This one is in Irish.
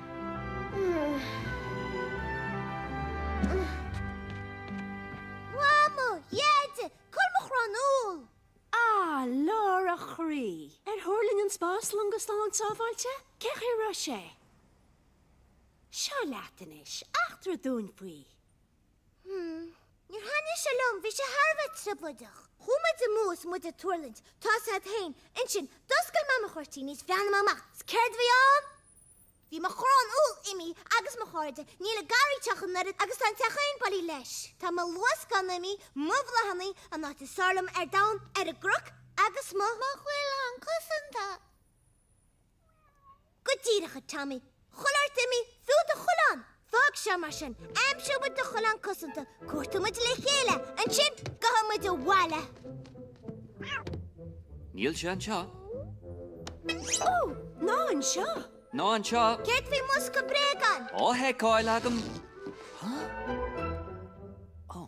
A Mhama! A Dheaide! Cá bhfuil mo chrann úll? A Lára, a chroí! Ar thuirling an spáslong go slán sábháilte? Cén chaoi a raibh sé? Seo leat anois eachtraigh dúinn faoi. Níor thaitin sé liom, bhí sé thar a bheith trioblóideach. Chuaigh muid amú 's muid ag tuirlingt, sa stad féin, ansin, d'oscail Mama na cuirtíní is d'fhéach mé amach, 's céard a bhí ann? Bhí mo chrann úll imithe agus mo chairde, níl aon gharraí ag an teach ach an oiread agus tá an teachín bailithe leis. Tá mo luascán imithe, mo bhláthannaí, an áit is fearr liom ar domhan, ar an gcnoc, agus mo. Mo choileán cosanta! Go díreach, a Tommy! Chuile shórt imithe, fiú do choileán! Fág seo, mar sin. Aimseoidh muid do choileán cosanta, cuartóidh muid le chéile, ansin gabhfaidh muid abhaile! Níl sé anseo. Ó! Ná anseo! Ná anseo! Céard faoin mbosca bréagán? Á sheiceáil agam. Hah? Ó!